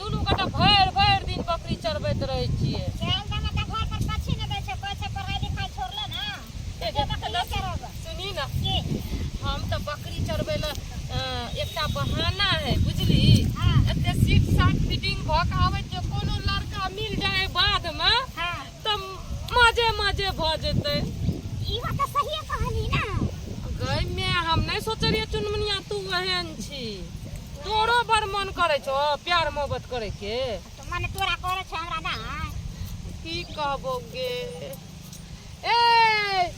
दुनू गोटा भरि भरि दिन बकरी चरबैत रहै छियै सुनी ना हम तऽ बकरी चरबै लए एकटा बहाना है बुझली एते सीट साट फिटिंग भऽ कऽ आबै कोनो लड़का मिल जाए बादमे तऽ मजे मजे भऽ जेतै ई बात तऽ सहिए कहली ना गई में हम नहीं सोचे रहिए चुनमुनिया तू एहन छी तोरो बड़ मन करे छो प्यार मोहब्बत करे के तऽ मने तोरा करै छै हमरा ना की कहबो गे ए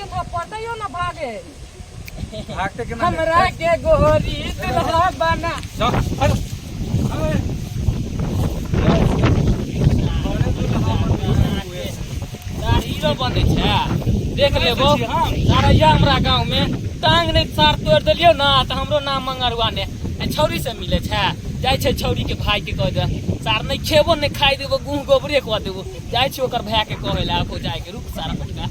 पटैयो ना भागे भागते के ना हमरा के गोरी दुल्हा बना तार हीरो बने छै देख लेबो तारैया हमरा गांव में टांग नहीं सार तोड़ देलियो ना तो हमरो नाम मंगरुआ ने ए, छौरी से मिले छै जाय छै छौरी के भाई के कह दे सार नहीं खेबो नहीं खाई देबो गुह गोबरे कह देबो जाय छै ओकर भाई के कहे ला आबो जाय के रुक सारा पटका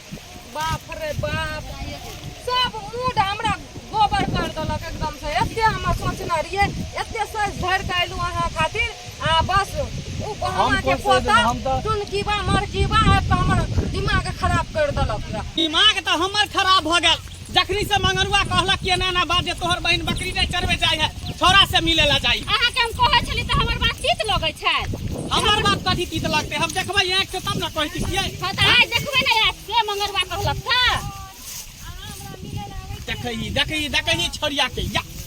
बाप रे बाप सब मूड हमरा गोबर कर देलक एकदम से एते हम सोचने रहिए एते सोच धर के अयलू अहाँ खातिर आ बस उ हम के पोता टुनकीबा मरकीबा आबि के हमर दिमाग खराब कर देलक दिमाग तो हमर खराब हो गया जखनी से मंगरुआ कहलक कि एना ना बात जे तोहर बहन बकरी नहीं चरवे जाय है छोरा से मिले ला जाई अहाँ के हम कहै छली तऽ हमर बात तीत लगै छै हमर बात कथी तीत लगते हम देखबै आँख से तब ना कहती किए हँ तऽ आइ देखबै ने आइ के मंगरवा कहलक तऽ देखै देखै देखै छोरिया के या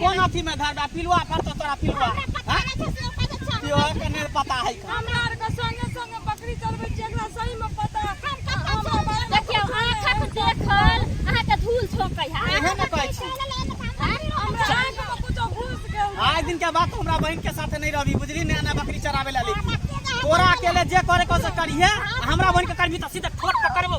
कौन अथी में धरबा पिलुआ पर तो तोरा पिलुआ पिलुआ के नहीं पता है हमरा आर के संगे संगे बकरी चलबै छी एकरा सही में पता देखियो आंखक देखल अहाँ के धूल छोकै है एहे न कहै छी हमरा आर के कुछो घुस गेल आइ दिन के बात हमरा बहन के साथ नहीं रहबी बुझली ने ना बकरी चरावे ला ले तोरा अकेले जे करे को से करिहे हमरा बहन के करबी त सीधे ठोक के करबो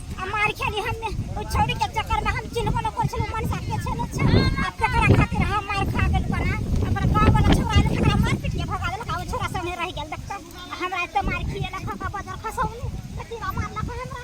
मार खेली हम ओ छोड़ी के चक्कर में हम चिन्हबो न कर छलु मन साथे छलु छ आ तकरा खातिर हम मार खा गेल बना अपन गांव वाला छोरा ने तकरा मार पीट के भगा देलक आ ओ छोरा संगे रह गेल देखता हमरा एते मार खिए लखा का बदर खसौनी कति मार लखा हमरा